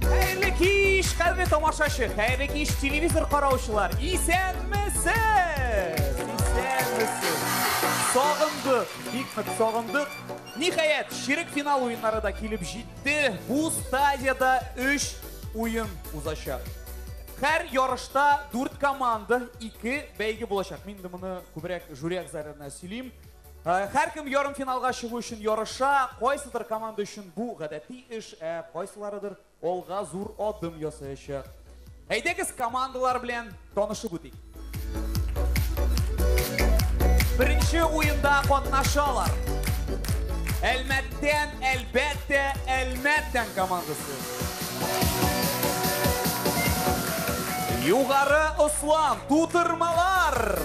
Хәерле кич, хәерле тамашачы, хәерле кич телевизор караучылар. Исәнмесез! Исәнмесез! Сагындык, бик нык сагындык. Ниһаять, ширек финал уеннары да килеп җитте. Бу стадияда 3 уен узачак. Һәр ярышта 4 команда, 2 бәйге булачак. Мин инде моны күбрәк жюри әгъзаларына сөйлим. Һәркем ярымфиналга чыгу өчен ярыша, кайсыдыр команда өчен бу гадәти эш, ә кайсыларыдыр алга зур адым ясаячак. Әйдәгез командалар белән танышып үтик. Беренче уенда катнашалар. Әлмәттән, әлбәттә, Әлмәт тән командасы. Югары ослан, тутырмалар!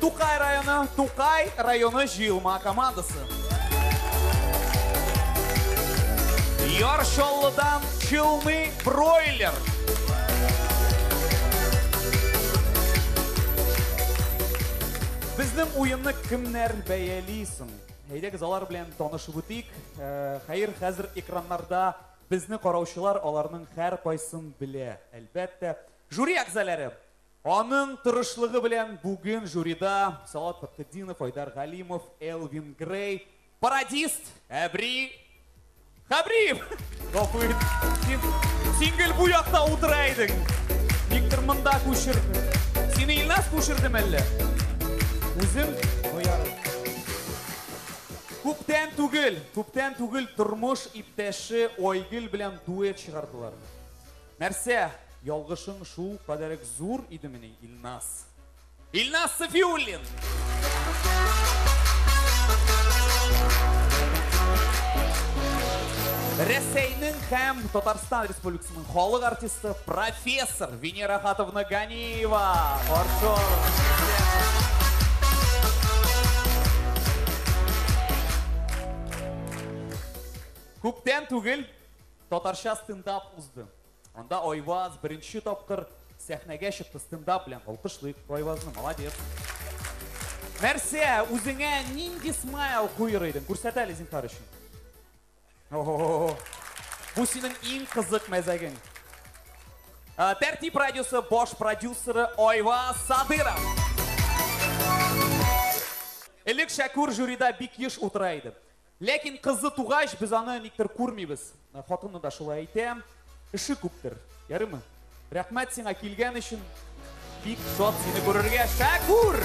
Тукай районы, Тукай районы җыелма командасы. Яршаллыдан чылмый бройлер. Безнең уенны кемнәр бәяли соң? Әйдәгез алар белән танышып үтик. Хәер, хәзер экраннарда безне караучылар аларның хәр кайсын белә, әлбәттә. Жюри әгъзаләре. Аның тырышлыгы белән бүген жюрида Салат Фатхетдинов, Айдар Галимов, Элвин Грей, Пародист, Әбри, Хәбриев! Гафу ит. Син, син гел бу якта утыра идең. Никтер монда күчерде. Сине Илназ күчерде мәллә? Үзем оярым. Күптән түгел, күптән түгел тормыш иптәше Айгөл белән дуэт чыгардылар. Нәрсә, ялгышың шул кадәрек зур идемени, Илназ? Илназ Сафиуллин. Рәсәйнең һәм Татарстан Республикасының халык артисты профессор Венера Хатовна Ганиева. Каршы Күптән түгел татарча стендап узды. Анда Айваз беренче тапкыр сәхнәгә чыкты стендап белән. Алкышлыйк Айвазны, молодец. Нәрсә, үзеңә нинди смайл куер идең? Күрсәт әле зинһар өчен. Бу синең иң кызык мәзәгең. Э, Тәртип радиосы баш продюсеры Айва Садыров. Элек Шәкүр жюрида бик еш утыра иде. Ләкин кызы тугач, без аны никтер күрмибез. Хатыны да шулай әйтә. Эше күптер. Ярыймы? Рәхмәт сиңа килгән өчен. Бик шат сине күрергә. Шәкүр!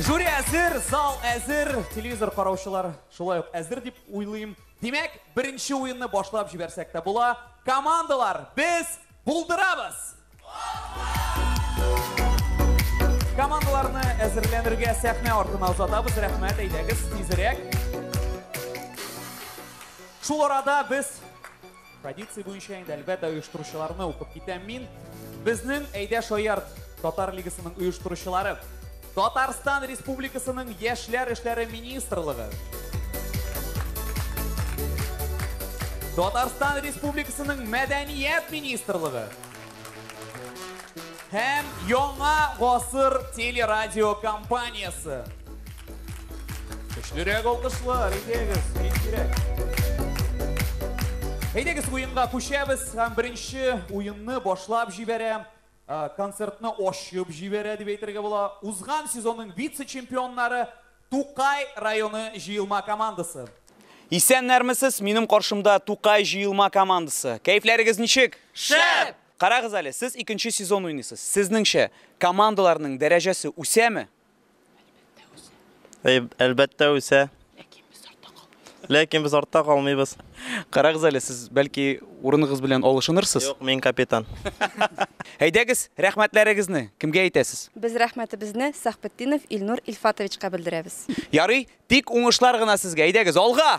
Жюри әзер, зал әзер, телевизор караучылар шулай ук әзер дип уйлыйм. Димәк, беренче уенны башлап җибәрсәк тә була. Командалар, без Булдырабыз! Командаларны әзерләнергә сәхнә артына озатабыз. Рәхмәт, әйдәгез, тизрәк. Шул арада без традиция буенча инде әлбәттә оештыручыларны укып китәм мин. Безнең әйдә шаярт татар лигасының оештыручылары. Татарстан Республикасының Яшьләр эшләре министрлыгы, Татарстан Республикасының Мәдәният министрлыгы һәм Яңа гасыр телерадиокомпаниясе. Көчлерәк алкышлар, әйдәгез, бик кирәк. Әйдәгез уенга күчәбез һәм беренче уенны башлап җибәрәм. Концертны ачып җибәрә дип әйтергә була узган сезонның вице-чемпионнары, Тукай районы җыелма командасы. Исәннәрмесез, минем каршымда Тукай җыелма командасы. Кәефләрегез ничек? Шәп! Карагыз әле, сез икенче сезон уйныйсыз. Сезнеңчә, командаларның дәрәҗәсе үсәме? Әлбәттә үсә. Әй, Әлбәттә үсә. Ләкин без артта калмыйбыз. Ләкин без артта калмыйбыз. Карагыз әле, сез бәлки урыныгыз белән алышынырсыз? Юк, мин капитан. Әйдәгез, рәхмәтләрегезне кемгә әйтәсез? Без рәхмәтебезне Сәхбетдинов Илнур Илфатовичка белдерәбез. Ярый, тик уңышлар гына сезгә. Әйдәгез, алга!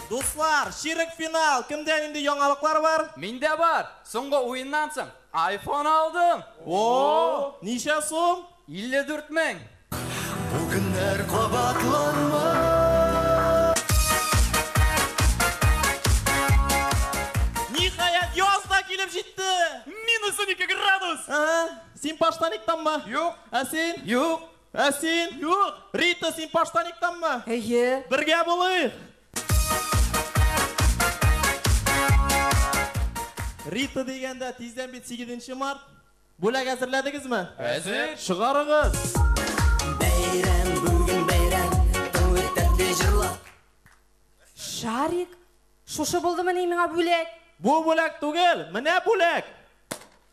Дуслар, чирек финал! Кемдә нинди яңалыклар бар? Миндә бар! Соңгы уеннан соң айфон алдым! Оо! Ничә сум? 54 мең! Бу көннәр кабатланмас. Ниһаять, яз да килеп җитте! Минус унике градус! Ә-ә, син поштаниктанмы? Юк. Ә син? Юк. Ә син? Юк! Рита, син Паштаниктанмы? Әйе. Бергә булыйк! Рита дигәндә, тиздән бит сигезенче март. Бүләк әзерләдегезме? Әзер. Чыгарыгыз! Шарик, шушы булдымыни миңа бүләк? Бу бүләк түгел, менә бүләк!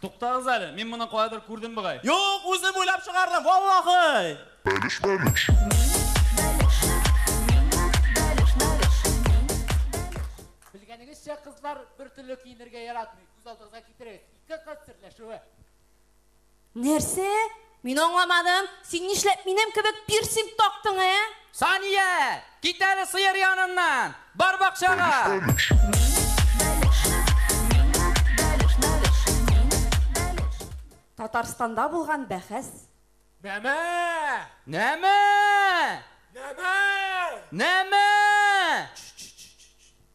Туктагыз әле, мин моны каядыр күрдем бугай. Юк, үзем уйлап чыгардым, валлахый! Бәлеш, бәлеш. Белгәнегезчә, кызлар бер төрле киенергә яратмый. Күз алдыгызга китерегез, ике кыз серләшүе. Нәрсә? Мин аңламадым, син нишләп минем кебек пирсинг тактың, ә? Сания! Кит әле сыер яныннан! Бар бакчага! Татарстанда булган бәхәс. Нәмә! Нәмә! Нәмә! Нәмә!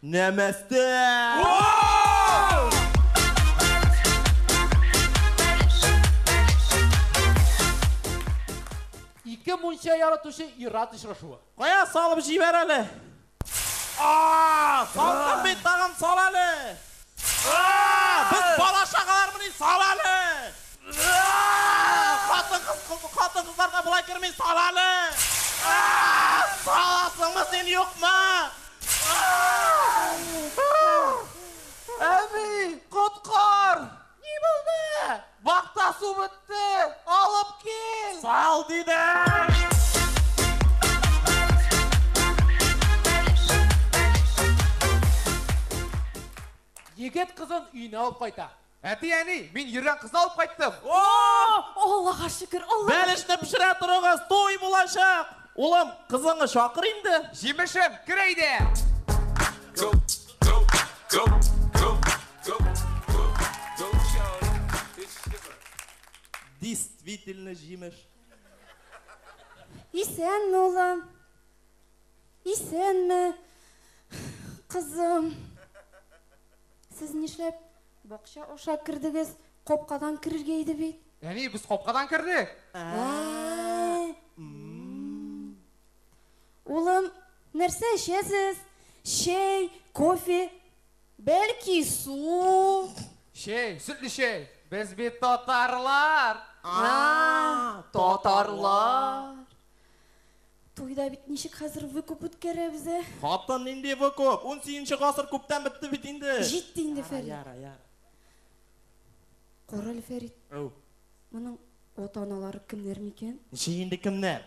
Нәмәстә! Ике мунча яратучы ир-ат очрашуы. Кая салып җибәр әле? А-а-а! Салкын бит, тагын сал әле! Без бала чагалармыни, сал әле! Хатын-кыз, хатын-кызларга болай керми, сал әле! Саласыңмы син, юкмы? Әби, коткар! Ни булды? Бакта су бетте, алып кил! Сал, дидем! Егет кызын өенә алып кайта. Әти, әни, мин йөргән кызны алып кайттым! Аллага шөкер, Аллага шөкер! Бәлешне пешерә торыгыз, туй булачак! Улым, кызыңны чакыр инде! Җимешем, кер әйдә! Действительно җимеш. Исәнме, улым? Исәнме, кызым? Сез нишләп бакча аша кердегез? Капкадан керергә иде бит. Әни, без капкадан кердек. Ә, Улым, нәрсә эчәсез? Чәй, кофе, бәлки, су? Чәй, сөтле чәй! Без бит татарлар! А, татарлар! Туйда бит ничек хәзер выкуп үткәрәбез, ә? Хатын, нинди выкуп? Унсигенче гасыр күптән бетте бит инде! Җитте инде, Фәрит. Яра, яра. Карале, Фәрит. Әу. Моның ата-аналары кемнәр микән? Ничек инде кемнәр?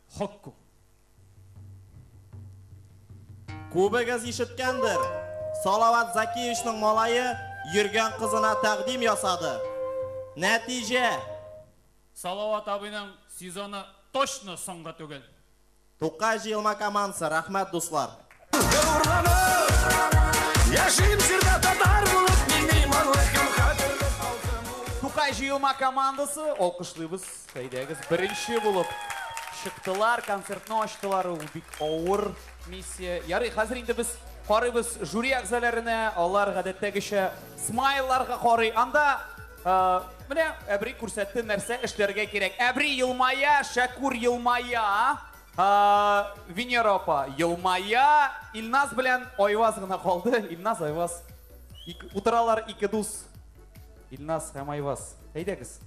Хокку. Күбегез ишеткәндер, Салават Закиевичның малае йөргән кызына тәкъдим ясады. Нәтиҗә. Салават абыйның сезоны точно соңгы түгел. Тукай җыелма командасы, рәхмәт, дуслар! Тукай җыелма командасы, алкышлыйбыз, әйдәгез, беренче булып чыктылар, концертны ачтылар, ул бик авыр миссия. Ярый, хәзер инде без карыйбыз жюри әгъзаларына, алар гадәттәгечә смайларга карый. Анда э, менә Әбри күрсәтте нәрсә эшләргә кирәк. Әбри елмая, Шәкүр елмая. Венера апа елмая. Илназ белән Айваз гына калды. Илназ, Айваз. Утыралар ике дус. Илназ һәм Айваз. Әйдәгез.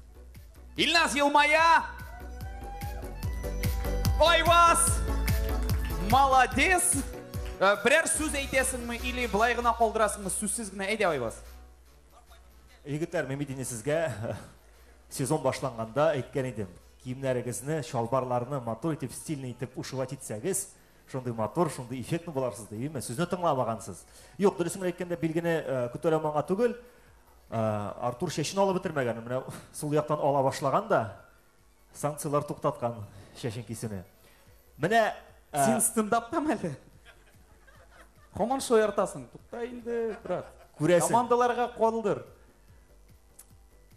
Илназ елмая. Айваз! Молодец! Э, берәр сүз әйтәсеңме или былай гына калдырасыңмы? Сүзсез генә әйдә Айваз. Егетләр, Мемедине сезгә Сезон башланганда әйткән идем, киемнәрегезне, чалбарларны матур итеп, стильный итеп ушивать итсәгез, шундый матур, шундый эффектный буларсыз дип, име? Сүзне тыңламагансыз. Юк, дөресен генә әйткәндә, билгене э, күтәрәм аңа түгел. Э, Артур чәчен алып бетермәгән, менә сул яктан ала башлаган да, санкцияләр туктаткан чәчен кисүне. Менә э, Син стендаптамы әле? Һаман шаяртасың. Тукта инде, брат. Күрәсең. Командаларга калдыр.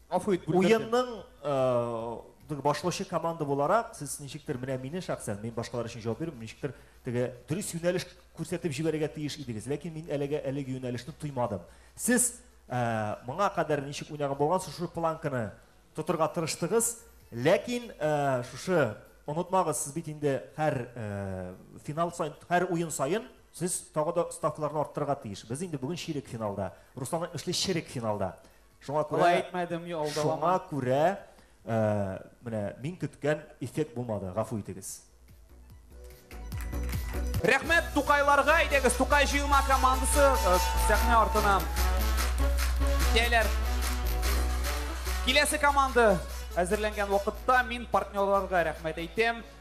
Гафу ит, бүлдердем. Уенның э, башлаучы команда буларак, сез ничектер менә мине шәхсән, мин башкалар өчен җавап бирмим, ничектер теге дөрес юнәлеш күрсәтеп җибәрергә тиеш идегез, ләкин мин әлегә әлеге юнәлешне тоймадым. Сез э, моңа кадәр ничек уйнаган булган шушы планканы тотырга тырыштыгыз, ләкин э, шушы онытмагыз, сез бит инде һәр финал сайын, һәр уен сайын Сез тагы да ставкаларны арттырырга тиеш. Без инде бүген чирек финалда. Руслан әйтмешли, черек финалда. Шуңа күрә Алай әйтмәдем, алдалама. Шуңа күрә э, менә мин көткән эффект булмады, гафу итегез. Рәхмәт Тукайларга, әйдәгез, Тукай җыелма командасы э, сәхнә артына китәләр. Киләсе команда әзерләнгән вакытта мин партнерларга рәхмәт әйтәм.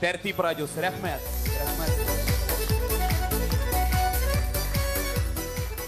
Тәртип радиосы, рәхмәт.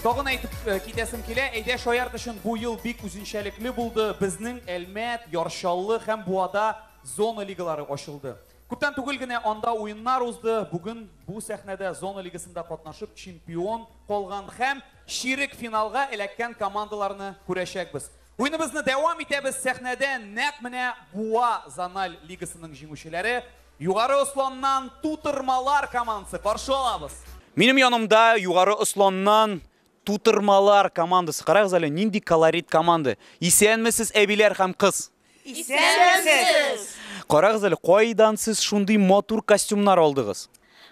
Тагын әйтеп э, китәсем килә, әйдә шаярт өчен бу ел бик үзенчәлекле булды. Безнең Әлмәт, Ярчаллы һәм Буада зона лигалары ачылды. Күптән түгел генә анда уеннар узды. Бүген бу сәхнәдә зона лигасында катнашып чемпион калган һәм ширек финалга эләккән командаларны күрәчәкбез. Уеныбызны дәвам итәбез, сәхнәдә нәкъ менә Буа зональ лигасының җиңүчеләре, Югары Осланнан Тутырмалар командасы каршы алабыз. Минем янымда Югары Осланнан Тутырмалар командасы, карагыз әле, нинди колорит команда! Исәнмесез, әбиләр һәм кыз! Исәнмесез! Карагыз әле, кайдан сез шундый матур костюмнар алдыгыз?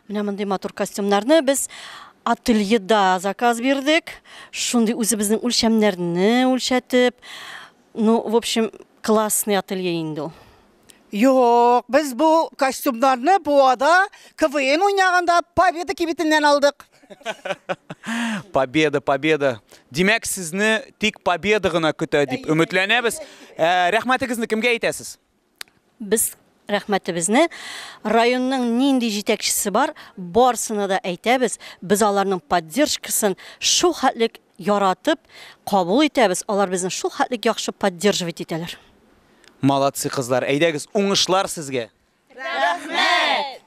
Менә мондый матур костюмнарны без ательеда заказ бирдек. Шундый үзебезнең үлчәмнәрне үлчәтеп, ну, в общем, классный ателье инде ул. Юк, без бу костюмнарны Буада КВН уйнаганда Победа кибетеннән алдык. Победа, победа. Димәк, сезне тик победа гына көтә дип өметләнәбез. Ә, Рәхмәтегезне кемгә әйтәсез? Без рәхмәтебезне районның нинди җитәкчесе бар, барсына да әйтәбез. Без аларның поддержкасын шул хәтлек яратып кабул итәбез, алар безне шул хәтлек яхшы поддерживать итәләр. Молодцы, кызлар, әйдәгез, уңышлар сезгә! Рәхмәт!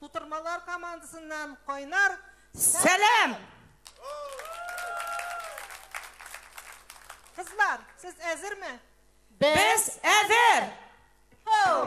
Тутырмалар командасыннан кайнар сәлам! Кызлар, сез әзерме? Без әзер! Хоу!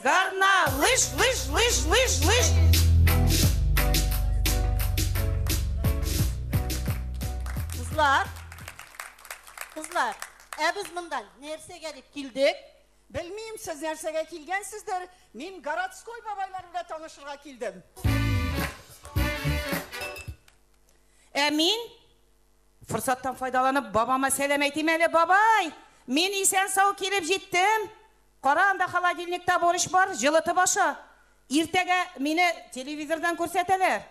Гарна, лыж, лыж, лыж, лыж, лыж. Кызлар, кызлар, ә без монда нәрсәгә дип килдек? Белмим, сез нәрсәгә килгәнсездер, мин городской бабайлар белән танышырга килдем. Ә мин форсаттан файдаланып бабама сәлам әйтим әле, бабай! Мин исән сау килеп җиттем. Кара, анда холодильникта борщ бар, җылытып аша. Иртәгә мине телевизордан күрсәтәләр.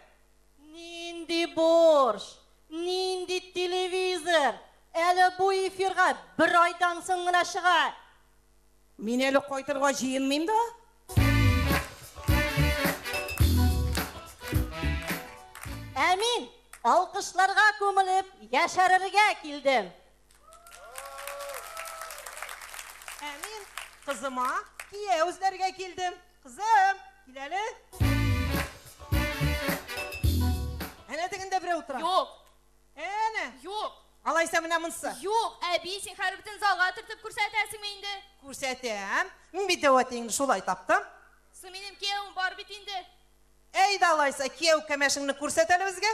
Нинди борщ? Нинди телевизор? Әле бу эфирга бер айдан соң гына чыга. Мин әле кайтырга җыенмыйм да. Ә мин алкышларга күмелеп яшәрергә килдем. Ә мин кызыма кияү эзләргә килдем. Кызым, кил әле. Әнә тегендә берәү утыра. Юк, Әнә. юк, Алайса менә монсы. юк, әби, син хәзер бөтен залга төртеп күрсәтәсеңме инде? Күрсәтәм. Мин бит әүвәтең шулай таптым. Сы минем кияүем бар бит инде. Әйдә алайса, кияү кәмәшеңне күрсәт әле безгә.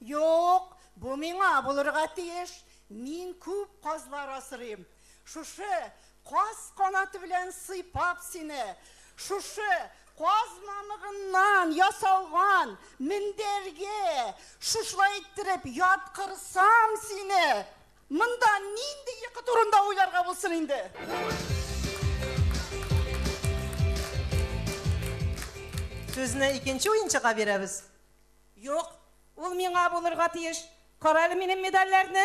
Юк, бу миңа булырга тиеш, мин күп казлар асрыйм. Шушы каз канаты белән сыйпап сине, шушы каз мамыгыннан ясалган мендәргә шушылай иттереп яткырсам сине! Монда нинди йокы турында уйларга булсын инде? Сүзне икенче уенчыга бирәбез. Юк, ул миңа булырга тиеш. Карале минем медальләрне!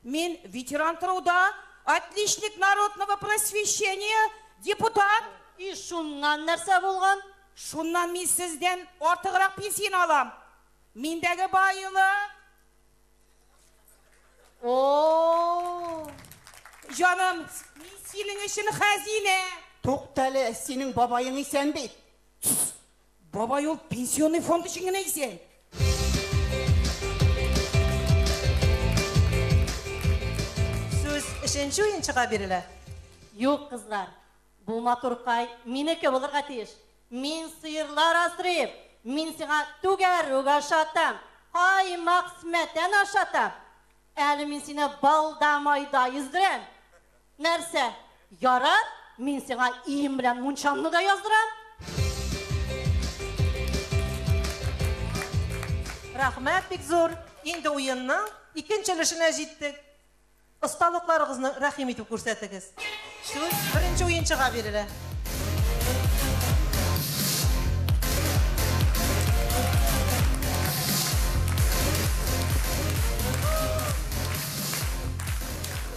Мин ветеран труда, отличник народного просвещения, депутат! И шуннан нәрсә булган? Шуннан мин сездән артыграк пенсияне алам. Миндәге байлык! О-о-о! Җаным, мин синең өчен хәзинә! Туктале, синең бабаең исән бит? Бабай ул пенсионный фонд өчен генә исән. Сүз өченче уенчыга бирелә. Юк, кызлар, бу матур кай минеке булырга тиеш. Мин сыерлар асрыйм, мин сиңа түгәрүк ашатам, каймак-сметана ашатам. Әле мин сине балда-майда йөздерәм. Нәрсә, ярар, мин сиңа ием белән мунчаңны да яздырам. Рәхмәт бик зур! Инде уенның икенче өлешенә җиттек. Осталыкларыгызны рәхим итеп күрсәтегез. Сүз беренче уенчыга бирелә.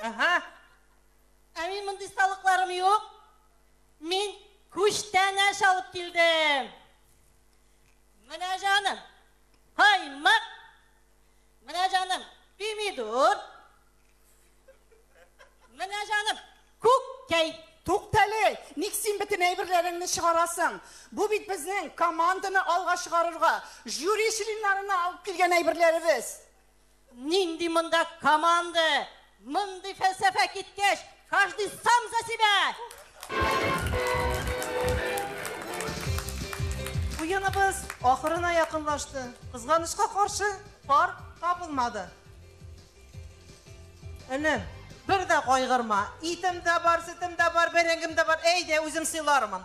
Ага. Ә мин мондый салыкларым юк. Мин күчтәнәч алып килдем. Менә җаным, каймак. Менә җаным, пимидор. Менә җаным, күккәй. Туктале, ник син бөтен әйберләреңне чыгарасың? Бу бит безнең команданы алга чыгарырга, жюри членнарына алып килгән әйберләребез. Нинди монда команда! Мондый фәлсәфә киткәч, каждый сам за себя! Уеныбыз ахырына якынлашты. Кызганычка каршы, пар табылмады. Энем, бер дә кайгырма. Итем дә бар, сөтем дә бар, бәрәңгем дә бар. Әйдә, үзем сыйлармын.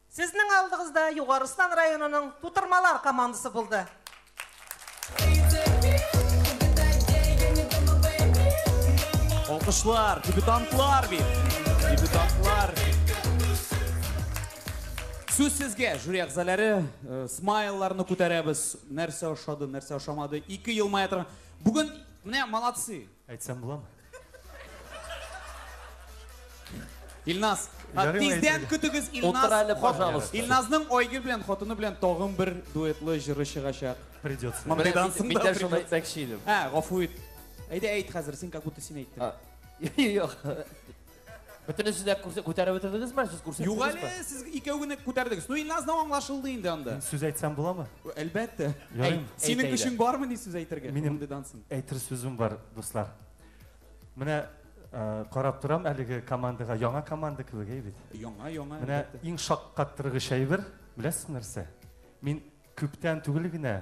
Сезнең алдыгызда Югарыстан районының Тутырмалар командасы булды. Алкышлар, дебютантлар бит. Дебютантлар. Сүз сезгә, жюри әгъзалары, э, смайлларны күтәрәбез. Нәрсә ошады, нәрсә ошамады. Ике елмая торган. Бүген менә молодцы. Әйтсәм буламы? Илназ, Ярый ма тиздән әйтергә? көтегез Илназ. Утыр әле, пожалуйста. Илназның Айгөл белән хатыны белән тагын бер дуэтлы җыры чыгачак. Придется. Мон- Менә Кайдансың мин- да, мин дә шуны придется. әйтмәкче идем. Ә, гафу ит. Әйдә әйт хәзер, син как будто син әйттең. А, Юк. Бөтенесе дә күрсә күтәреп бетердегезме? Сез күрсәттегезме? Юк әле, сез икәү генә күтәрдегез. Ну, Илназның аңлашылды инде анда. Мин сүз әйтсәм буламы? Әлбәттә. Ярыйм. Синең көчең бармы ни сүз әйтергә? Минем әйтер сүзем бар, дуслар. Менә карап торам әлеге командага, яңа команда кебек, әй бит. Яңа, яңа. Менә иң шаккаттыргыч әйбер, беләсез нәрсә? Мин күптән түгел генә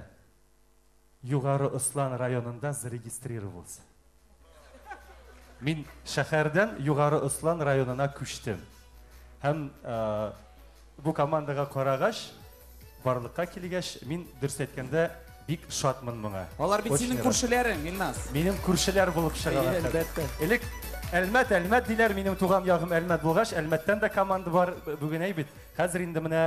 Югары Ослан районында зарегистрировалс. Мин шәхәрдән Югары Ослан районына күчтем. Һәм бу командага карагач, барлыкка килгәч, мин дөрес әйткәндә бик шатмын моңа. Алар бит синең күршеләрең, Миннас. Минем күршеләр булып чыгалар. Әлбәттә. Элек Әлмәт, Әлмәт диләр, минем туган ягым Әлмәт булгач, Әлмәттән дә команда бар, бүген әй бит. Хәзер инде менә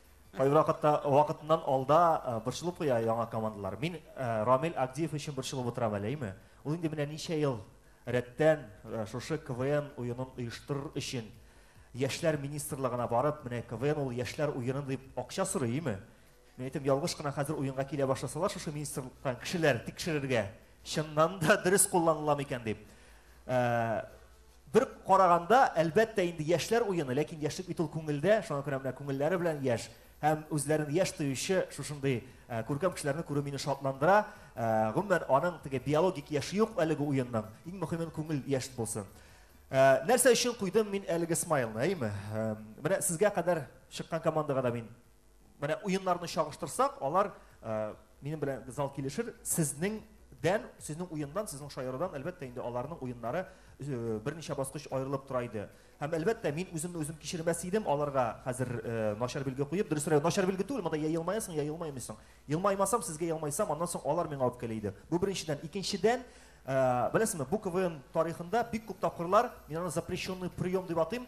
Кайвакытта вакытыннан алда борчылып куя яңа командалар. Мин Рамил Агдиев өчен борчылып утырам әле, әйме? Ул инде менә ничә ел рәттән шушы КВН уенын оештырыр өчен Яшьләр министрлыгына барып, менә КВН ул яшьләр уены дип акча сорый, әйме? Мин әйтәм, ялгыш кына хәзер уенга килә башласалар шушы министрлыктан кешеләр тикшерергә, Чыннан да дөрес кулланыла микән дип. Бер караганда, әлбәттә, инде яшьләр уены, ләкин яшьлек бит ул күңелдә, шуңа күрә менә күңелләре белән яшь һәм үзләрен яшь тоючы шушындый күркәм кешеләрне күрү мине шатландыра. Гомумән, аның теге биологик яше юк әлеге уенның. Иң мөһимен күңел яшь булсын. Нәрсә өчен куйдым мин әлеге смайлны, әйеме? Менә сезгә кадәр чыккан командага да мин Менә уеннарны чагыштырсак, алар э, минем белән зал килешер, сезнең дән, сезнең уендан, сезнең шаярыдан, әлбәттә, инде аларның уеннары э, берничә баскыч аерылып тора иде. Һәм әлбәттә, мин үземне үзем кичермәс идем, аларга хәзер э, начар билге куеп, дөресрәк, начар билге түгел, монда я елмаясың, я елмаймыйсың. Елмаймасам, сезгә елмайсам, аннан соң алар миңа үпкәли иде. Бу беренчедән, икенчедән, э, беләсезме, бу КВН тарихында бик күп тапкырлар, мин аны запрещенный прием дип атыйм,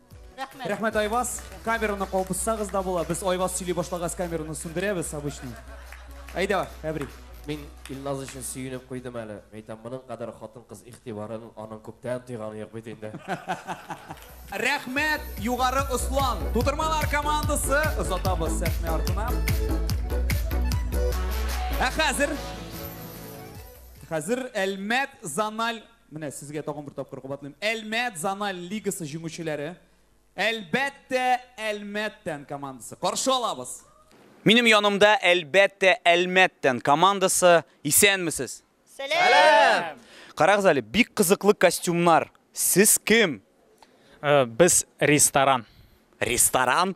Рәхмәт. Рәхмәт Айваз. Камераны калпыссагыз да була. Без Айваз сөйли башлагас камераны сүндерәбез обычно. Әйдә, Әбри. Мин Илназ өчен сөенеп куйдым әле. Әйтәм, моның кадәр хатын-кыз игътибарын аның күптән тойганы юк бит инде. Рәхмәт, югары Услан. Тутырмалар командасы озатабыз сәхнә артына. Ә хәзер Хәзер Әлмәт Заналь Менә сезгә тагын бер тапкыр кабатлыйм. Әлмәт зональ лигасы җиңүчеләре, әлбәттә, Әлмәттән командасы. Каршы алабыз! Минем янымда, әлбәттә, Әлмәттән командасы. Исәнмесез! Сәлам! Карагыз әле, бик кызыклы костюмнар. Сез кем? Без ресторан. Ресторан?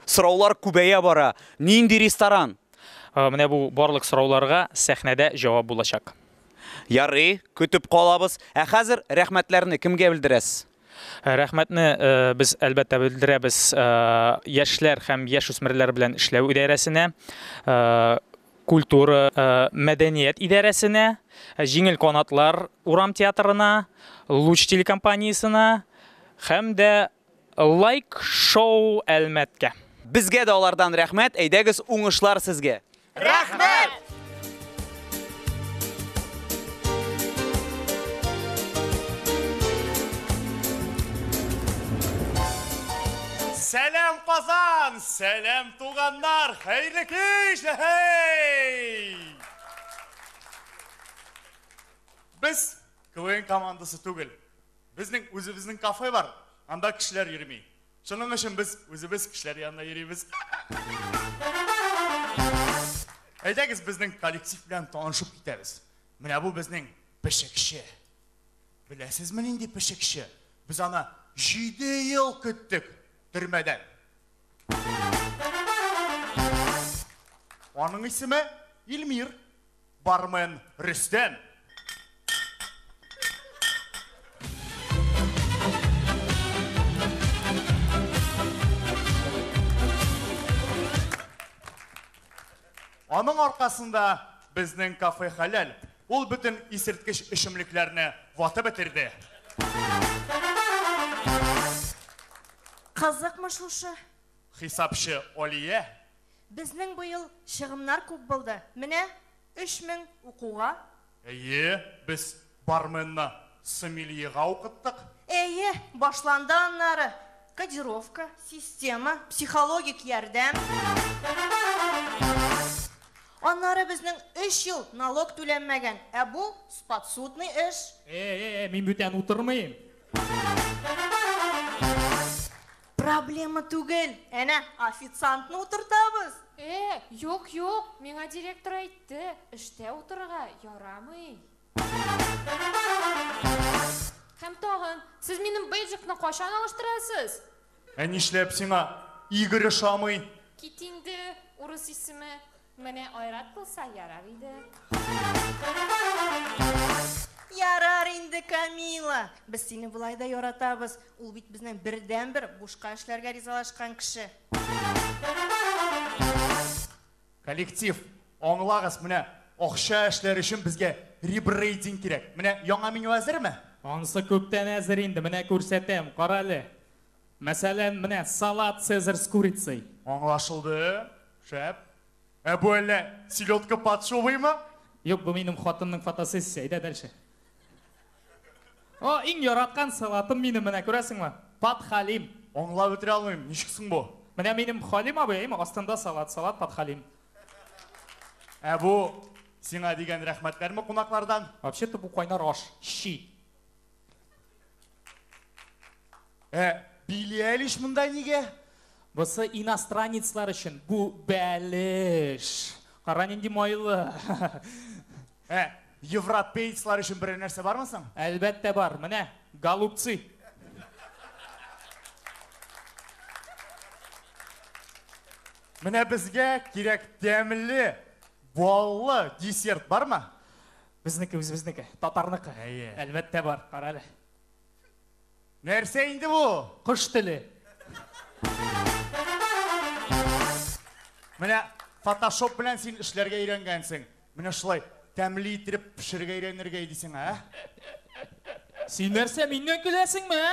Сораулар күбәя бара. Нинди ресторан? Менә бу барлык сорауларга сәхнәдә җавап булачак. Ярый, көтеп калабыз. Ә хәзер рәхмәтләрне кемгә белдерәсез? Рәхмәтне без, әлбәттә, белдерәбез яшьләр һәм яшүсмерләр белән эшләү идарәсенә. культура, мәдәният идарәсенә, Җиңел канатлар урам театрына, Луч телекомпаниясенә һәм дә Лайк шоу Әлмәткә. Безгә дә алардан рәхмәт, әйдәгез, уңышлар сезгә! Рәхмәт! Сәлам Казан! Сәлам туганнар, хәерле кич! Һей! Без КВН командасы түгел. Безнең үзебезнең кафе бар. Анда кешеләр йөрми. Шуның өчен без үзебез кешеләр янына йөрибез. Әйдәгез безнең коллектив белән танышып китәбез. Менә бу безнең пешекче. Беләсезме нинди пешекче? Без аны 7 ел көттек. Төрмәдән. Аның исеме Илмир. Бармен Рөстәм. Аның аркасында безнең кафе хәләл, ул бөтен исерткеч эчемлекләрне ватып бетерде. Кызыкмы шушы? Хисапчы Алия. Безнең быел чыгымнар күп булды. Менә өч мең укуга. Әйе, без барменны сомельега укыттык. Әйе, башланды аннары кодировка, система, психологик ярдәм. Аннары безнең өч ел налог түләнмәгән, ә бу, сподсудный эш. Э-э-э, мин бүтән утырмыйм. Проблема түгел, әнә, официантны утыртабыз. Э, юк, юк, миңа директор әйтте, эштә утырырга ярамый. Һәм тагын, сез минем бейджикны кайчан алыштырасыз? Ә нишләп сиңа Игорь ошамый? Кит инде, урыс исеме. Менә Айрат булса ярар иде. Ярар инде, Камила. Без сине болай да яратабыз. Ул бит безнең бердәнбер бушка эшләргә ризалашкан кеше. Коллектив, аңлагыз, менә акча эшләр өчен безгә ребрейдинг кирәк. Менә яңа меню әзерме? Ансы күптән әзер инде, менә күрсәтәм, кара әле. Мәсәлән, менә салат цезарь с курицей. Аңлашылды. Шәп. Ә бу әллә селедка под шубыймы? Юк, бу минем хатынның фотосессиясе. Әйдә дальше. О, иң яраткан салатым минем, менә күрәсеңме? Подхалим. Аңлап бетерә алмыйм, ничек соң бу? Менә минем Халим абый, әйеме, астында салат, салат подхалим. Ә бу сиңа дигән рәхмәтләрме кунаклардан? Вообще-то бу кайнар аш, щи. Ә Билли Әлиш монда нигә? Бусы иностранецлар өчен. Бу бәлеш. Кара нинди майлы. Ә европейцлар өчен берәр нәрсә бармы соң? Әлбәттә бар. Менә голубцы. Менә безгә кирәк тәмле, баллы десерт бармы? Безнеке үзебезнеке, татарныкы. Әйе. Әлбәттә бар, кара әле. Нәрсә инде бу? Кош теле. Менә фотошоп белән син эшләргә өйрәнгәнсең. Менә шулай тәмле итеп пешерергә өйрәнергә иде сиңа, ә? Син нәрсә, миннән көләсеңме, ә?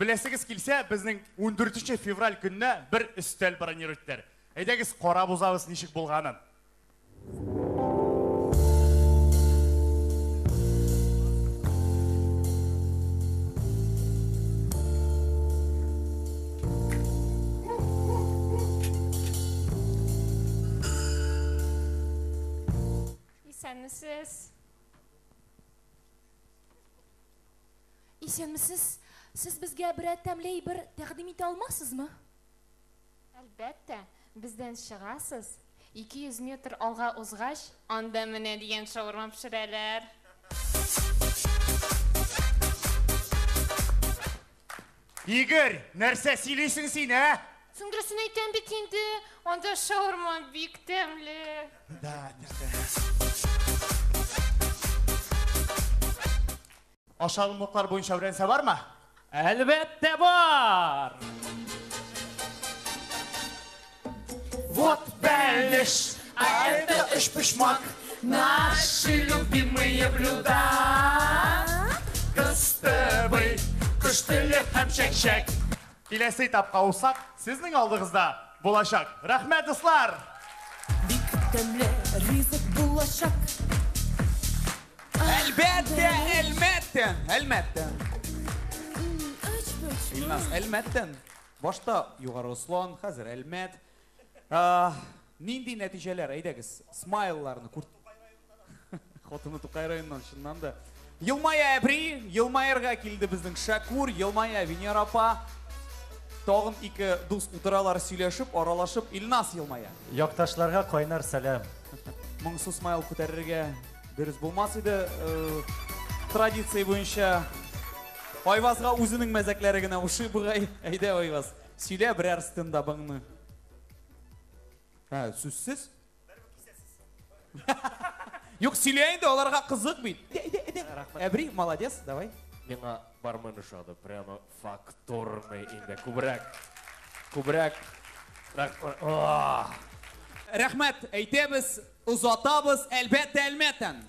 Беләсегез килсә, безнең 14 февраль көнне бер өстәл бронировать Әйдәгез, кара бузабыз ничек булганын. Исәнмесез. Исәнмесез. Сез безгә берәр тәмле әйбер тәкъдим итә алмасызмы? Әлбәттә, бездән чыгасыз. 200 метр алга узгач, анда менә дигән шаурма пешерәләр. Игорь, нәрсә сөйлисең син, ә? Соң дөресен әйтәм бит инде, анда шаурма бик тәмле. Да, Ашалымлыклар буенча үрәнсә бармы? Әлбәттә бар! Вот бәлеш, а это өч почмак, наши любимые блюда. Кыстыбый, кыш теле һәм чәкчәк. Киләсе этапка усак сезнең алдыгызда булачак. Рәхмәт, дуслар! Бик тәмле ризык булачак. Әлбәттә, әлмәттән, әлмәттән. Ильназ, әлмәттән. Башта Югары Ослан, хәзер Әлмәт. Ә, нинди нәтиҗәләр? Әйдәгез, смайлларны күр... Хатыны Тукай районыннан, чыннан да. Елмая Әбри, елмаерга килде безнең Шакур, елмая Венера апа. Тагын ике дус утыралар сөйләшеп, аралашып, Илнас елмая. Якташларга кайнар сәлам. Моңсу смайл күтәрергә дөрес булмас иде. Э, традиция буенча Айвазга үзенең мәзәкләре генә ошый бугай. Әйдә, Айваз, сөйлә берәр стендабыңны. Ә, сүзсез? Юк, сөйлә инде, аларга кызык бит. Әбри, молодец, давай. Миңа бармен ошады, прямо Фактурный инде күбрәк. Күбрәк. Рәхмәт әйтәбез, озатабыз, әлбәттә, әлмәттән.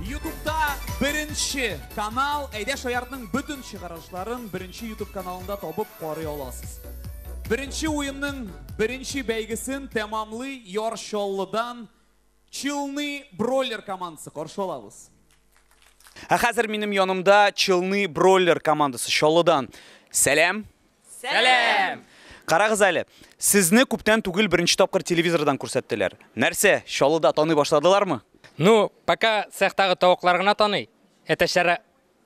Ютубта беренче канал, әйдә шаяртның бөтен чыгарышларын беренче ютуб каналында табып карый аласыз. Беренче уенның беренче бәйгесен тәмамлый Яр Чаллыдан Челны бройлер командасы каршы алабыз. Ә хәзер минем янымда Челны бройлер командасы Чаллыдан. Сәлам. Сәлам. Карагыз әле, сезне күптән түгел беренче тапкыр телевизордан күрсәттеләр. Нәрсә, Чаллыда таный башладылармы? Ну, пока цехтагы тавыклар гына таный. Әтәчләре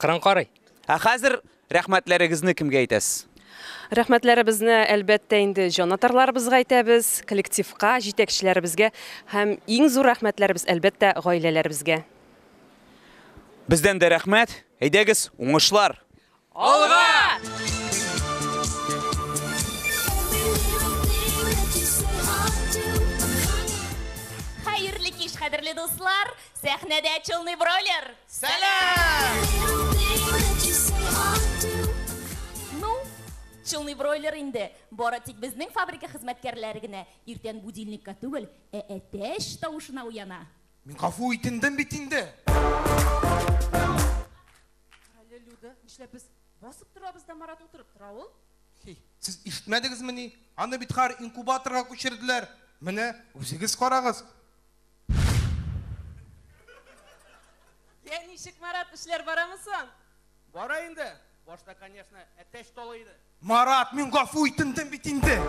Кырын карый. Ә хәзер рәхмәтләрегезне кемгә әйтәсез? Рәхмәтләребезне, әлбәттә, инде җанатарларыбызга әйтәбез, коллективка, җитәкчеләребезгә һәм иң зур рәхмәтләребез, әлбәттә, гаиләләребезгә. Бездән дә рәхмәт. Әйдәгез, уңышлар! Алга! Хәерле кич, кадерле дуслар! Сәхнәдә Челный Бройлер! Ну, Челный Бройлер инде бары тик безнең фабрика хезмәткәрләре генә иртән будильникка түгел, ә әтәч тавышына уяна. Мин гафу үтендем бит инде! Карале, Люда, нишләп без басып торабыз да Марат утырып тора ул? Хи, сез ишетмәдегезмени? Аны бит хәер инкубаторга күчерделәр. Менә, үзегез карагыз. Я, ничек, Марат, эшләр барамы соң? Бара инде. Башта, конечно, әтәч талый иде. Марат, мин гафу итендем бит инде.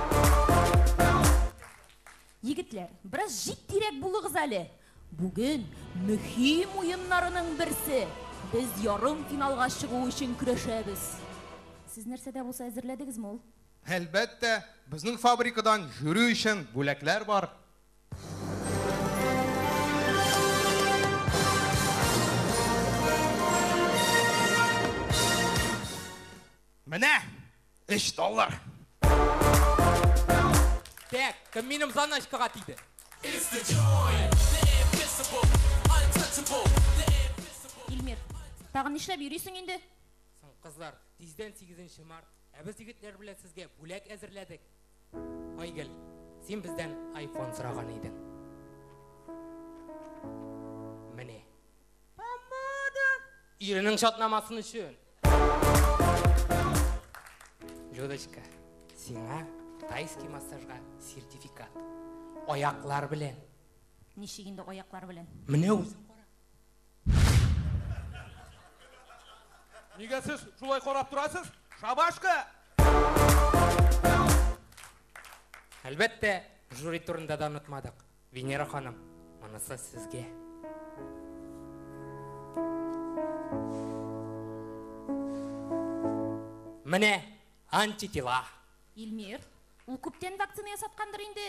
Егетләр, бераз җитдирәк булыгыз әле. Бүген мөһим уеннарының берсе. Без ярым финалга чыгу өчен көрәшәбез. Сез нәрсәдә булса әзерләдегезме ул? Әлбәттә, безнең фабрикадан жюри өчен бүләкләр бар. Менә 3 доллар. Так, кем минем заначкага тиде? Илмир, тагын нишләп йөрисең инде? Соң, кызлар, тиздән 8 март, ә без егетләр белән сезгә бүләк әзерләдек. Айгөл, син бездән айфон сораган идең. Менә. Помада! Иренең шатнамасын өчен. Людочка, сиңа тайский массажга сертификат. Аяклар белән. Ничек инде аяклар белән? Менә үзең Нигә сез шулай карап торасыз? Шабашка! Әлбәттә, жюри турында да онытмадык. Венера ханым, монысы сезгә. Менә антитела. Илмир, ул күптән вакцина ясаткандыр инде.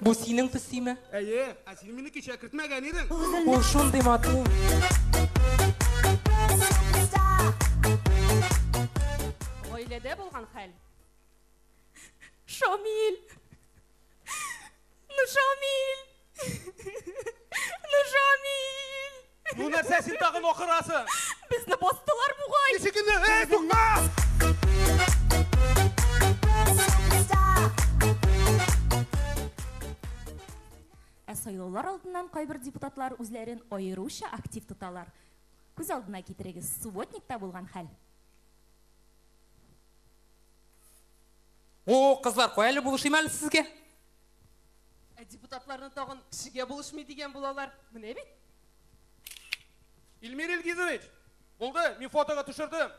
Бу синең песиме? Әйе, ә син мине кичә кертмәгән идең. Ул шундый матур. Гаиләдә булган хәл. Шамил. Ну Шамил. Ну Шамил. Ну нәрсә син тагын акырасың? Безне бастылар бугай. Ничек инде? Эй, тукта! Ә сайлаулар алдыннан кайбер депутатлар үзләрен аеруча актив тоталар. Күз алдына китерегез, субботникта булган хәл. О, кызлар, кая әле булышыйм әле сезгә? Ә депутатларны тагын кешегә булышмый дигән булалар. Менә бит. Илмир Илгизович, булды, мин фотога төшердем.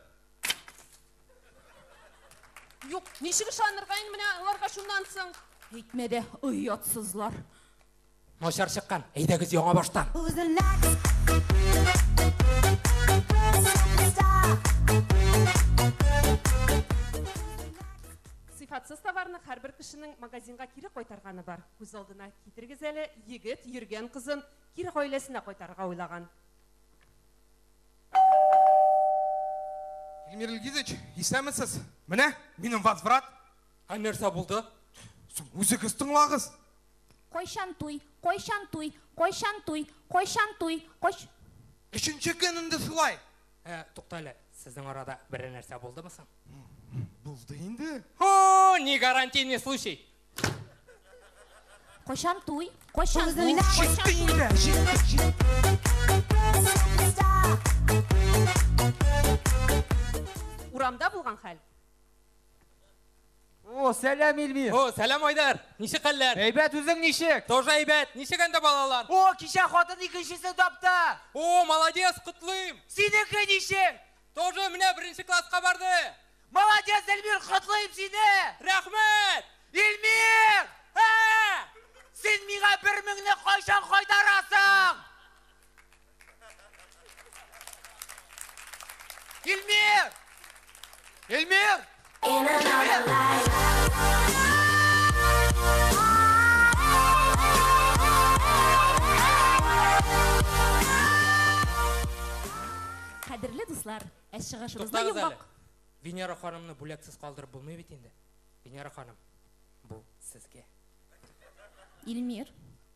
Юк, ничек ышанырга инде менә аларга шуннан соң? Әйтмә дә, оятсызлар. Начар чыккан. Әйдәгез яңа баштан. Сыйфатсыз товарны һәрбер кешенең магазинга кире кайтарганы бар. Күз алдына китерегез әле, егет йөргән кызын кире гаиләсенә кайтарырга уйлаган. Эльмир Илгизович, исәнмесез? Менә минем возврат. Ә нәрсә булды? Соң үзегез тыңлагыз. Кайчан туй, кайчан туй, кайчан туй, кайчан туй, кайч. Өченче көн инде шулай. Ә, тукта әле, сезнең арада берәр нәрсә булдымы соң? Булды инде. Һо, ни гарантийный случай. Кайчан туй, кайчан туй, Үзенә кайчан Җитте туй. инде, җитте, җитте. Урамда булган хәл. О, сәлам, Ильвир! О, сәлам, Айдар! Ничек хәлләр? Әйбәт, үзең ничек? Тоже әйбәт! Ничек әндә балалар? О, кичә хатын икенчесе тапты! О, молодец, котлыйм! Синеке ничек? Тоже менә беренче класска барды! Молодец, Эльмир, котлыйм сине! Рәхмәт! Эльмир! Ә! Син миңа бер меңне кайчан кайтарасың? Илмир! Илмир! Кадерле дуслар, ә чыгышыбызда йомгак. Венера ханымны бүләксез калдырып булмый бит инде. Венера ханым, бу сезгә. Илмир,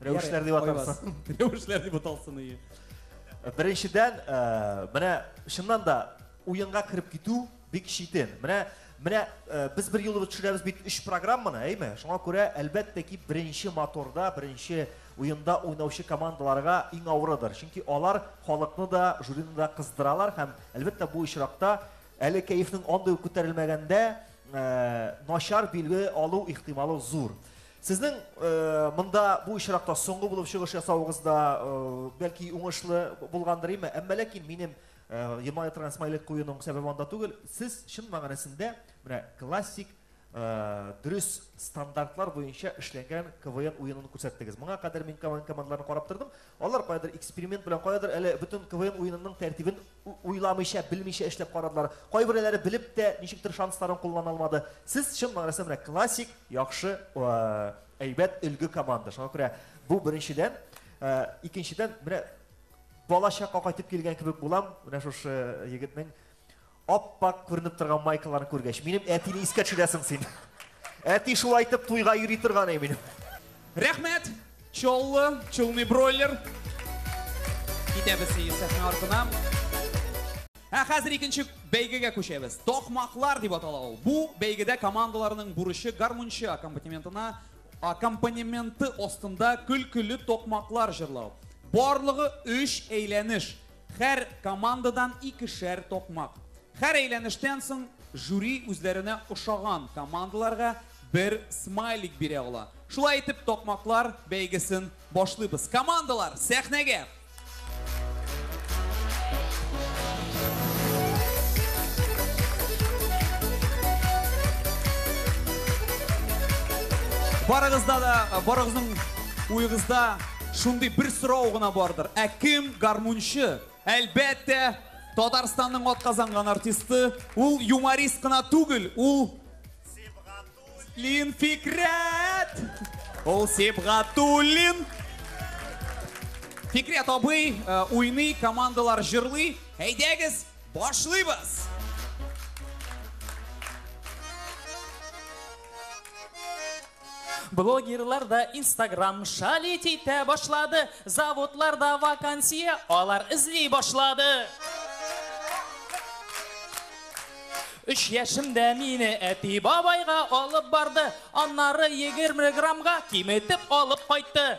Рәвешләр дип атарсың. Рәвешләр дип аталсын ие. Беренчедән, э, менә чыннан да уенга кереп китү бик читен. Менә менә э, без бер юлы төшерәбез бит өч программаны, әйме? Шуңа күрә, әлбәттә ки, беренче моторда, беренче уенда уйнаучы командаларга иң авырыдыр. Чөнки алар халыкны да, жюрины да кыздыралар һәм, әлбәттә, бу очракта әле кәефнең андый ук күтәрелмәгәндә, э, начар билге алу ихтималы зур. Сезнең монда бу очракта соңгы булып чыгыш ясавыгыз да бәлки уңышлы булгандыр име? Әмма ләкин минем елмая торган смайлик куюның сәбәбе анда түгел. Сез чын мәгънәсендә менә классик дөрес стандартлар буенча эшләнгән КВН уенын күрсәттегез. Моңа кадәр мин КВН командаларын карап тордым. Алар каядыр эксперимент белән, каядыр әле бөтен КВН уенының тәртибен Уйламыйча, белмичә эшләп карадылар. Кайберәүләре белеп тә, ничектер шансларын куллана алмады. Сез, чын мәгънәсендә, менә классик, яхшы, әйбәт, өлге команда. Шуңа күрә бу беренчедән. Икенчедән, менә балачакка кайтып килгән кебек булам, менә шушы егетнең ап-ак күренеп торган майкаларын күргәч. Минем әтине искә төшерәсең син. Әти шулай итеп туйга йөри торган иде минем. Рәхмәт! Чоллы, чулный бройлер. Китәбез Юсефның артына. Ә хәзер икенче бәйгегә күчәбез. Токмаклар дип атала ул. Бу бәйгедә командаларның бурычы гармунчы аккомпанементына аккомпанементы астында көлкеле токмаклар җырлау. Барлыгы 3 әйләнеш. Һәр командадан икешәр такмак. Һәр әйләнештән соң жюри үзләренә ошаган командаларга бер смайлик бирә ала. Шулай итеп, такмаклар бәйгесен башлыйбыз. Командалар, сәхнәгә! Барыгызда да, барыгызның уегызда Шундый бер сорау гына бардыр. Ә кем гармунчы? Әлбәттә, Татарстанның атказанган артисты, ул юморист кына түгел, ул Сибгатуллин Фикрәт! Ул Сибгатуллин! Фикрәт абый э, уйный, командалар җырлый. Әйдәгез, башлыйбыз! Блогерлар да инстаграм шалить итә башлады, заводларда вакансия алар эзли башлады. Үч яшемдә мине әти бабайга алып барды, аннары 20 граммга киметеп алып кайтты.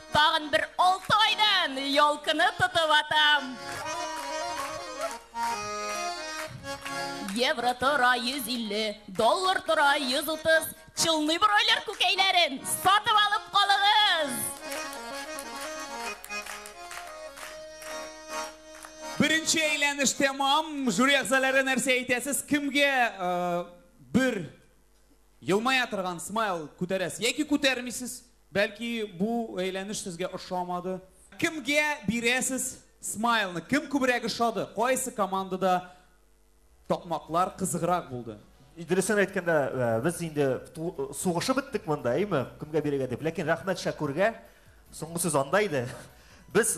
Тагын бер алты айдан ялкыны тотып атам. Евро тора 150, доллар тора 130. Чылный бройлер күкәйләрен сатып алып калыгыз. Беренче әйләнеш тәмам. Жюри әгъзалары нәрсә әйтәсез? Кемгә э, бер елмая торган смайл күтәрәсез яки күтәрмисез? Бәлки бу әйләнеш сезгә ошамады? Кемгә бирәсез смайлны? Кем күбрәк ошады? Кайсы командада такмаклар кызыграк булды? Дөресен әйткәндә, без инде сугышып беттек монда, әйме? Кемгә бирергә дип. Ләкин рәхмәт Шәкүргә. Соңгы сүз анда иде. Без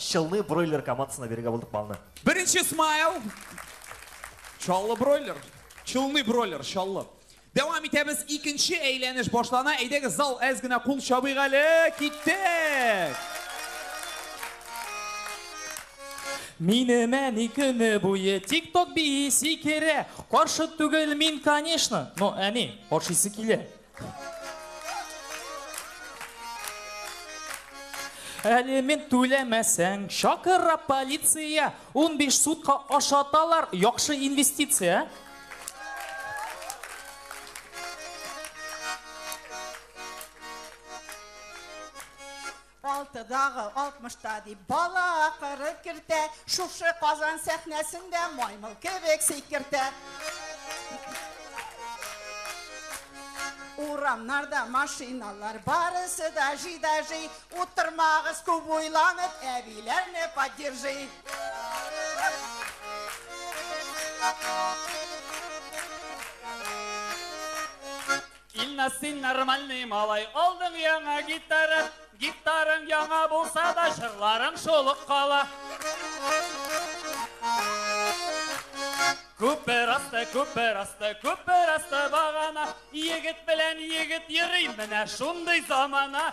Челны бройлер командасына бирергә булдык балны. Беренче смайл. Чаллы бройлер. Челны бройлер, Чаллы. Дәвам итәбез, икенче әйләнеш башлана, әйдәгез зал әз генә кул чабыйк әле, киттек! Минем әни көне буе тик-ток бии сикерә, каршы түгел мин, конечно, но әни, ашыйсы килә. Әлемент түләмәсәң, шакыра полиция, 15 сутка ашаталар, яхшы инвестиция. алтыдагы алтмышта дип бала кырып кертә шушы казан сәхнәсендә маймыл кебек сикертә урамнарда машиналар барысы да жи да жи утырмагыз күп уйланып әбиләрне поддержи Инна син нормальный малай, алдың яңа гитара, гитарың яңа булса да җырларың шулык кала. Күпер асты, күпер асты, күпер асты багана, егет белән егет йөри, менә шундый замана.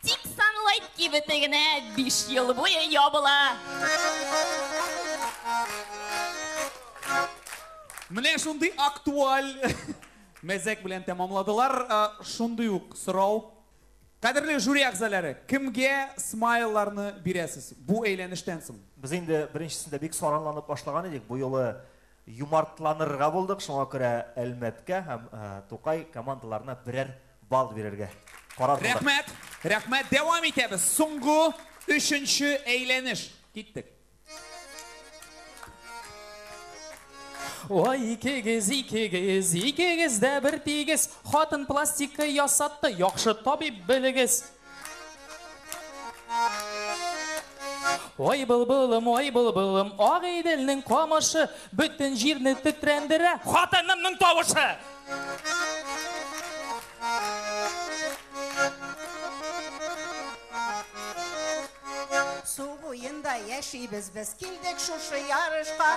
Тик Sunlight кибете генә биш ел буе ябыла. Менә шундый актуаль мәзәк белән тәмамладылар. Э, шундый ук сорау. Кадерле жюри әгъзалары, кемгә смайлларны бирәсез бу әйләнештән соң? Без инде беренчесендә бик саранланып башлаган идек. Бу юлы юмартланырга булдык. Шуңа күрә Әлмәткә һәм э, Тукай командаларына берәр Балл бирергә карар кылдык. Рәхмәт! Рәхмәт! Дәвам итәбез! Соңгы өченче әйләнеш! Киттек! Ой, икегез, икегез, икегез дә бертигез, Хатын пластика ясатты, яхшы табиб белегез. Ой былбылым, ой былбылым, ак Иделнең камышы бөтен җирне тетрәндерә. Хатынымның тавышы! Су буенда яшибез без, килдек шушы ярышка.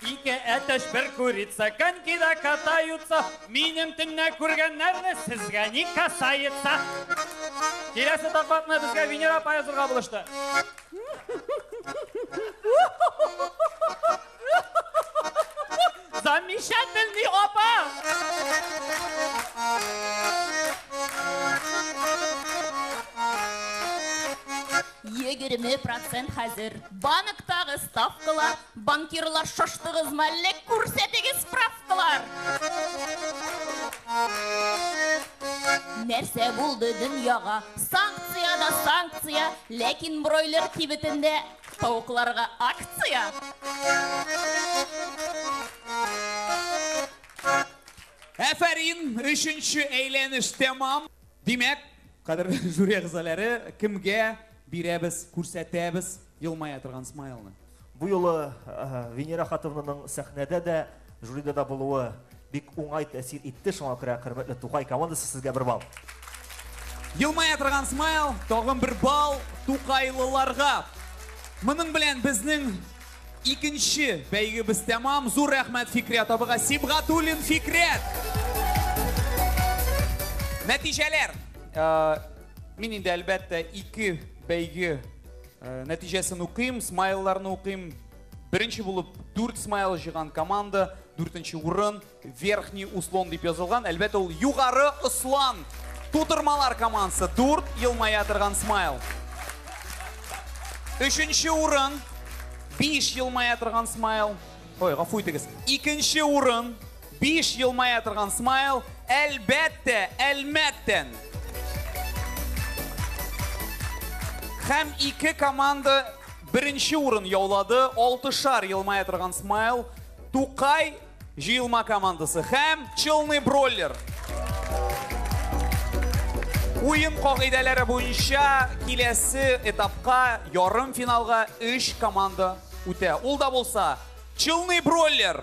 Ике әтәч бер курица, конькида катаются. Минем төнне күргәннәрне сезгә ни касается. Киләсе тапматны безгә Венера апа язырга булышты. Замечательный апа! Егерме процент хәзер банктагы ставкалар Банкирлар шаштыгызмы әллә? Күрсәтегез справкалар! Нәрсә булды дөньяга? Санкция да санкция, ләкин бройлер кибетендә тавыкларга акция! Әфәрин, өченче әйләнеш тәмам! Димәк, кадерле жюри әгъзаләре, кемгә бирәбез, күрсәтәбез? Елмая торган смайлны. Бу юлы Венера Хатовнаның сәхнәдә дә, жюрида да булуы бик уңай тәэсир итте, шуңа күрә хөрмәтле Тукай командасы сезгә бер балл. Елмая торган смайл, тагын бер балл тукайлыларга. Моның белән безнең икенче бәйгебез тәмам. Зур рәхмәт Фикрят абыга. Сибгатуллин Фикрят! Нәтиҗәләр! Мин инде әлбәттә ике бәйге э, нәтиҗәсен укыйм, смайлларны укыйм. Беренче булып 4 смайл җыган команда, 4 урын, верхний услон дип язылган. Әлбәттә ул югары услон. Тутырмалар командасы 4 елмая торган смайл. Өченче урын 5 елмая торган смайл. Ой, гафу итегез. Икенче урын Биш елмая торган смайл, әлбәттә, Әлмәттән! Һәм ике команда беренче урын яулады, алтышар елмая торган смайл, Тукай җыелма командасы һәм Челный Бройлер. Уен кагыйдәләре буенча киләсе этапка ярым финалга 3 команда үтә. Ул да булса Челный Бройлер